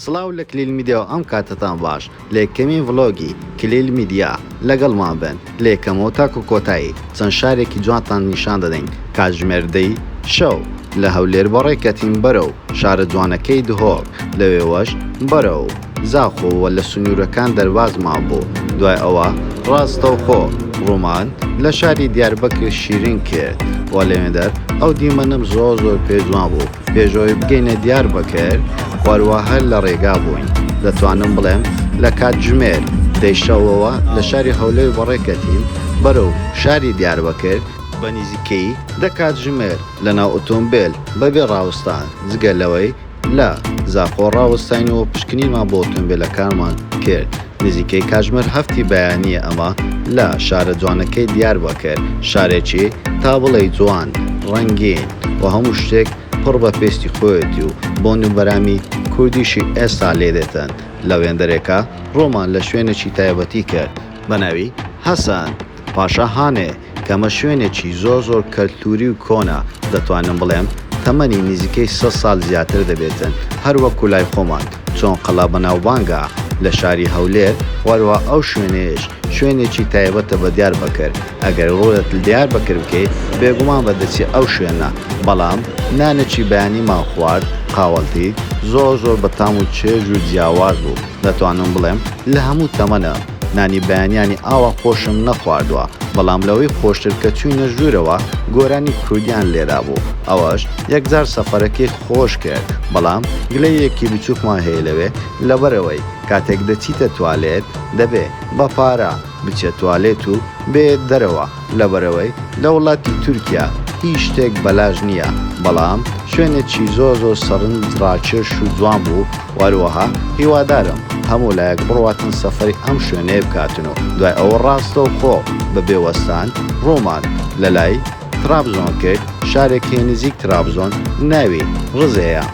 سڵاو لە کلیل میدیاو ئەم کاتەتان باش لە یەکەمین ڤڵۆگی کلیل میدیا لەگەڵمان بن لە یەکەمەوە تاکو کۆتایی چەند شارێکی جوانتان نیشان دەدەین کاتژمێر دەی شەو لە هەولێر بەڕێکەتین بەرەو شارە جوانەکەی دهۆک لەوێوەش بەرەو زاخۆ وە لە سنورەکان دەربازمان بوو دوای ئەوە ڕاستەوخۆ ڕوومان لە شاری دیاربەکر شیرین کرد وە لەوێندەر ئەو دیمەنەم زۆر زۆر پێ جوان بوو پێشەوەی بگەینە دیاربەکر وەروە هەر لە ڕێگا بووین دەتوانم بڵێم لە کاتژمێر دەی شەوەوە لە شاری هەولێر بەڕێ کەتین بەرەو شاری دیاربەکر، بە نزیکەیی دە کاتژمێر لە ناو ئۆتۆمبێل بە بێ ڕاوستان جگە لەوەی لە زاخۆ ڕاوەستاین و پشکنینمان بۆ ئۆتۆمبێلەکانمان کرد. نزیکەی کاژمێر هەفتی بەیانییە ئەمە لە شارە جوانەکەی دیاربەکر، شارێکی تا بڵێی جوان، ڕەنگین و هەموو شتێک پڕ بە پێستی خۆیەتی و بۆن و بەرامی کوردیشی ئێستا لێ دێتن، لە وێندەرێکە ڕوومان لە شوێنێکی تایبەتی کرد بە ناوی، حەسەن پاشا هانێ، کەمە شوێنێکی زۆر زۆر کەلتوری و کۆنە دەتوانم بڵێم تەمەنی نزیکەی سەد سال زیاتر دەبێتن هەر وەکو لای خۆمان چۆن قەڵا بەناوبانگە لە شاری هەولێر وەروە ئەو شوێنەیەش شوێنێکی تایبەتە بە دیار بەکر ئەگەر ڕولت لدیار بەکر بکەی بێگومان بە دەچی ئەو شوێنە بەڵام نانێکی بەیانیمان خوارد قاوەلتی زۆر زۆر بە تام و چێژ و جیاواز بوو دەتوانم بڵێم لە هەموو تەمەنە نانی بەیانیانی ئاوا خۆشم نەخواردوە بەڵام لەوەی خۆشتر کە چوینە ژورەوە گۆرانی کوردیان لێرا بوو ئەوەش یەکجار سەفەرەکەی خۆش کرد بەڵام گلەییەکی بچوکمان هەیە لەوێ لەبەرئەوەی کاتێک دەچیتە توالێت دەبێ بە پارە بچێت توالێت و بێیێت دەرەوە لەبەرئەوەی لە وڵاتی تورکیا هیچ شتێک بەلاش نیە بەڵام شوێنێکی زۆر زۆر سەرنج ڕاکێش و جوان بوو وەروەها هیوادارم هەموو لایەک بڕواتن سەفەری ئەم شوێنەیە بکاتن و دوای ئەوە ڕاستەوخۆ بە بێ وەستان ڕوومان لە لای ترابزۆن کرد، شارێک هەیە نزیک ترابزۆن ناوی، رزێ، یە.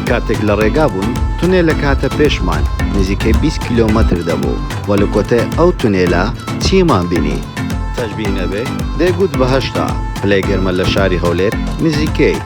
کاتێک لە ڕێگا بووین تونێلێک هاتە پێشمان نزیکەی بیست کیلۆمەتر دەبوو و لە کۆتای ئەو تونێلە چیمان بینی؟ تەشبیه نەبێ دەیگوت بە هەشتا پلەی گەرمە لە شاری هەولێر نزیکەی.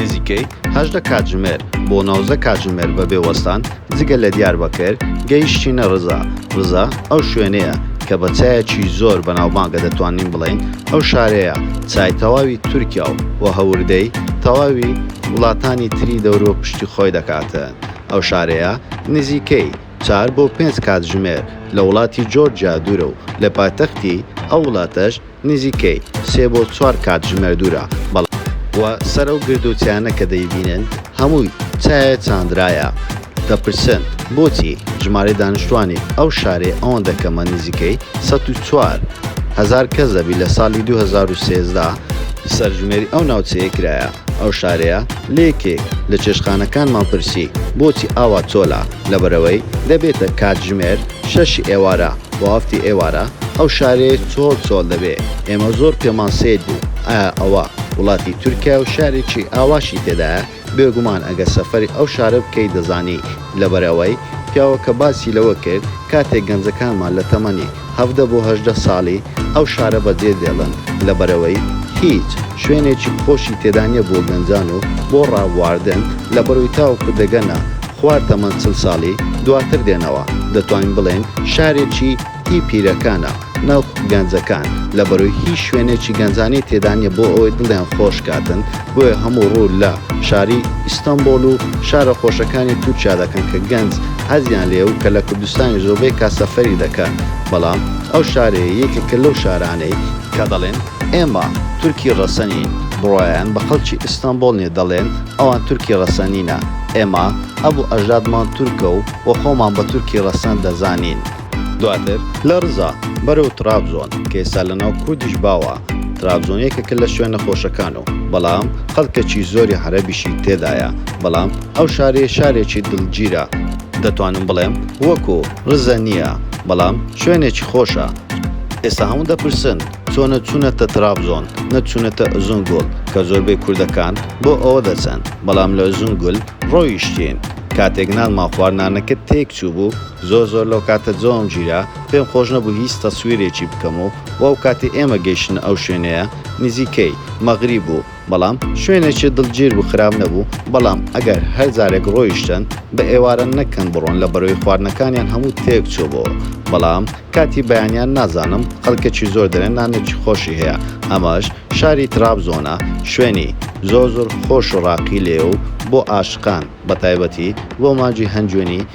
نزیکەی هەژدە کاتژمێر بۆ نۆزدە کاتژمێر بەبێ وەستان جگە لە دیاربەکر گەیشتینە رزا، رزا ئەو شوێنەیە کە بە چایەکی زۆر بەناوبانگە دەتوانین بڵێین ئەو شارەیە چای تەواوی تورکیا و و هەوردەی تەواوی وڵاتانی تری دەوروە پشتی خۆی دەکاتن ئەو شارەیە نزیکەی چار بۆ پێنج کاتژمێر لە وڵاتی جۆرجیا دوورە و لە پایتەختی ئەو وڵاتەش نزیکەی سێ بۆ چوار کاتژمێر دوورە، بەڵام. و سەرە و گردووتیانە کە دەیبینن هەمووی چایە چاندرایە، دەپرسن بۆچی ژمارەی دانیشتووانی ئەو شارەی ئەوەندە کەمە نزیکەی سەد و چوار هەزار کەس دەبی لە ساڵی دوو هەزار و سێزدە، سەرژمێری ئەو ناوچەیە کرایە ئەو شارەیە، لە یەکێک لە چێشتخانەکانمان پرسی بۆچی ئاوا چۆلە، لەبەرئەوەی دەبێتە کاتژمێر، شەش ی ئێوارە بۆ هەفت ی ئێوارە ئەو شارەیە چۆل چۆل دەبێ ئێمە زۆر پێمان سەیر بوو ئایا ئەوە وڵاتی تورکیایە و شارێکی ئاواشی تێدایە بێگومان ئەگەر سەفەری ئەو شارە بکەی دەزانی لەبەرئەوەی پیاوەکە باسی لەوە کرد کاتێک گەنجەکانمان لە تەمەنی هەڤدە بۆ هەژدە ساڵی ئەو شارە بە جێ دێڵن لەبەرئەوەی هیچ شوێنێکی خۆشی تێدا نیە بۆ گەنجان و بۆ ڕابواردن لەبەرئەوەی تاوەکو دەگەنە خوار تەمەن چل ساڵی دواتر دێنەوە دەتوانین بڵێین شارێکی هی پیرەکانە نەوەکو گەنجەکان لەبەرئەوەی هیچ شوێنێکی گەنجانی تێدا نیە بۆ ئەوەی دڵیان خۆش کاتن بۆیە هەموو ڕوو لە شاری ئیستەنبۆڵ و شارە خۆشەکانی تورکیا دەکەن کە گەنج حەزیان لێیە و کە لە کوردستانیش زۆربەی کات سەفەری دەکەن بەڵام ئەو شارەیە یەکێکە لەو شارانەی کە دەڵێن ئێمە تورکی ڕەسەنین، بڕوایان بە خەڵکی ئیستانبۆڵ نیە دەڵێن ئەوان تورکی ڕەسەنینە، ئێمە ئەبوو ئەژدادمان تورکە و و خۆمان بە تورکی ڕەسەن دەزانین. دواتر لە ڕزا بەرەو تڕابزۆن کە ئێستا لە ناو کوردیش باوە، ترابزۆن یەکێکە لە شوێنە خۆشەکان و بەڵام خەڵکێکی زۆری عەرەبیشی تێدایە، بەڵام ئەو شارەیە شارێکی دڵگیرە، دەتوانم بڵێم وەکو رزە نیە بەڵام شوێنێکی خۆشە. ئێستا هەموو دەپرسن چۆن نە چونەتە ترابزۆن نە چونەتە ئوزون گوڵ کە زۆربەی کوردەکان بۆ ئەوە دەچن بەڵام لە ئوزون گول ڕۆیشتین کاتێک نانمان خوارد نانەکە تێک چوبوو زۆر زۆر لەو کاتە جەوم گیرا پێم خۆش نەبوو هیچ تەسویرێکی بکەم و وەو کاتی ئێمە گەیشتنە ئەو شوێنەیە نزیکەی مەغریب بوو بەڵام شوێنێکی دڵگیر بوو خراپ نەبوو بەڵام ئەگەر هەر جارێک ڕۆیشتن بە ئێوارە نەکەن بڕۆن لە بەرەوەی خواردنەکانیان هەموو تێک چۆبەوە بەڵام کاتی بەیانیان نازانم خەڵکەکی زۆر دەێن نانێکی خۆشی هەیە ئەمەش شاری تراب زۆنە شوێنی زۆر زۆر خۆش و ڕاقی لێ و بۆ ئاشقان بە تایبەتی بۆ ماجی هەنجوێنی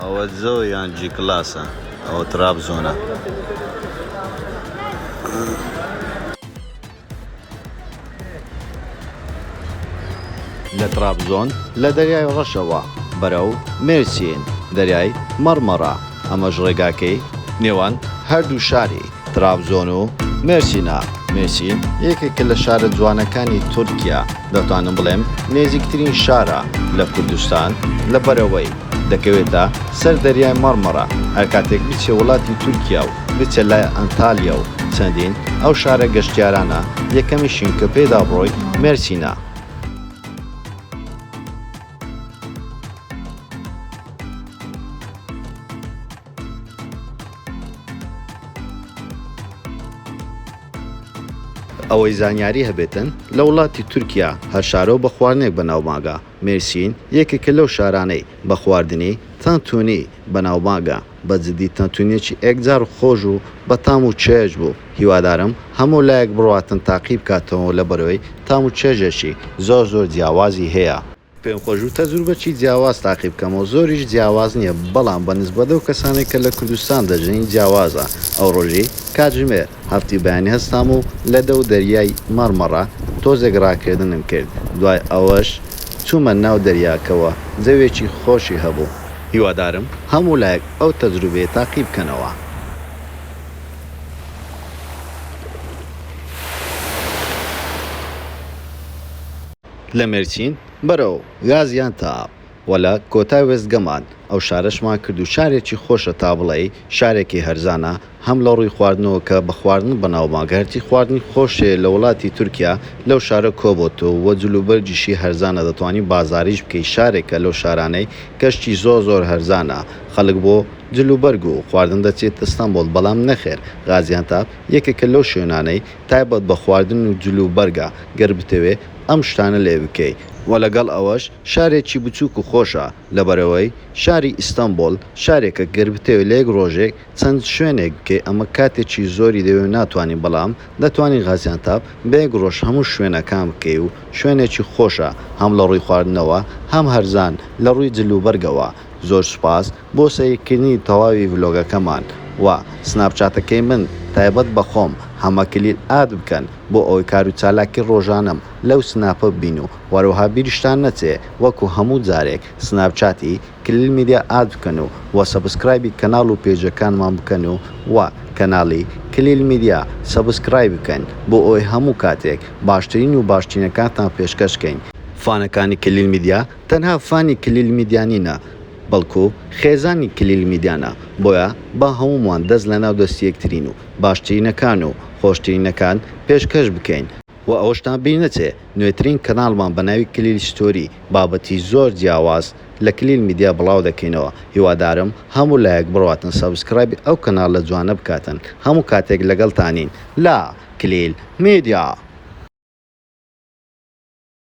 ئەوە جۆ یان جی کلاسە ئەوە ترابزۆنە. لە ترابزۆن لە دەریای ڕەشەوە بەرەو مێرسین دەریای مەڕمەڕە ئەمەش ڕێگاکەی نێوان هەردوو شاری. ترابزۆن و مێرسینە، مێرسین یەکێکە لە شارە جوانەکانی تورکیا، دەتوانم بڵێم نێزیکترین شارە لە کوردستان لە بەرەوەی، دەکەوێتە سەر دەریای مەڕمەڕە، هەر کاتێک بچێ وڵاتی تورکیا و بچێ لای ئەنتالیا و چەندین ئەو شارە گەشتیارانە یەکەمیشین کە پێیدا بڕۆی مێرسینە. ئەوەی زانیاری هەبێتن لە وڵاتی تورکیا هەر شارەو بە خواردنێک بە ناوبانگە، مێرسین یەکێکە لەو شارانەی بە خواردنی، تانتونی، بە ناوبانگە، بە جدی تانتونیەکی ئێکجار خۆش و بە تام و چێژ بوو، هیوادارم هەموو لایەک بڕواتن تاقی بکاتەوەو لە بەرۆی تام و چێژێکی زۆر زۆر جیاوازی هەیە. پێم خۆش بوو تەجروبەکی جیاواز تاقی بکەمەوە، زۆریش جیاواز نییە، بەڵام بە نیسبەت لەو کەسانەی کە لە کوردستان دەژین جیاوازە، ئەو ڕۆژی کاتژمێر هەفتی بەیانی هەستام و لە دەو دەریای مەڕمەڕە تۆزێک ڕاکردنم کرد، دوای ئەوەش چوومە ناو دەریاکەوە، جەوێکی خۆشی هەبوو. هیوادارم هەموو لایەک ئەو تەجروبەیە تاقی بکەنەوە. لە مێرچین بەرەو گازیان تا و لە کۆتای وێستگەمان ئەو شارەشمان کرد و شارێکی خۆشە تا بڵێی شارێکی هەرزانە هەم لە ڕووی خواردنەوە کە بە خواردن بەناوما گەرچی خواردنی خۆشێ لە وڵاتی تورکیا لەو شارە کۆبۆتۆ و جلوبەرگیشی هەرزانە دەتوانی بازاریش بکەی شارێکە لەو شارانەی کە شتی زۆر زۆر هەرزانە خەڵک بۆ جلوبەرگ و خواردن دەچێت ستەنبۆڵ بەڵام نەخێر غازیانتاپ یەکێکە لەو شوێنانەی تایبەت بە خواردن و جل و بەرگە گەر بتەوێ ئەم شتانە لێ بکەی. وە لەگەڵ ئەوەش شارێکی بچوک و خۆشە لەبەرئەوەی شاری ئیستەنبوڵ شارێکە گەر بتەوێ لە یەک ڕۆژێک چەند شوێنێک بکەی ئەمە کاتێکی زۆری دەوێ و ناتوانی بەڵام دەتوانی غازیانتاپ بە یەک ڕۆژ هەموو شوێنەکان بکەی و شوێنێکی خۆشە هەم لە ڕووی خواردنەوە هەم هەرزان لە ڕووی جل و بەرگەوە زۆر سوپاس بۆ سەیرکردنی تەواوی ڤلۆگەکەمان و سناپچاتەکەی من تایبەت بە خۆم هەمە کلیل ئاد بکەن بۆ ئەوەی کار و چالاکی ڕۆژانەم لەو سناپە ببین و وەروەها بیرشتان نەچێ وەکو هەموو جارێک سناپچاتی کلیل میدیا ئاد بکەن و وە سەبسکرایبی کەناڵ و پێجەکانمان بکەن و وە کەناڵی کلیل میدیا سەبسکرایب بکەن بۆ ئەوەی هەموو کاتێک باشترین و باشترینەکانتان پێشکەش کەین فانەکانی کلیل میدیا. تەنها فانی کلیل میدیا نینە بەڵکو خێزانی کلیل میدیانە بۆیە با هەموومان دەست لەناو دەستی یەکترین و باشترینەکان و خۆشترینەکان پێشکەش بکەین، وە ئەوەشتان بیر نەچێ نوێترین کەناڵمان بە ناوی کلیل ستۆری بابەتی زۆر جیاواز لە کلیل میدیا بڵاو دەکەینەوە هیوادارم هەموو لایەک بڕواتن سەبسکرایبی ئەو کەناڵە جوانە بکاتن هەموو کاتێک لەگەڵتانین لە کلیل میدیا.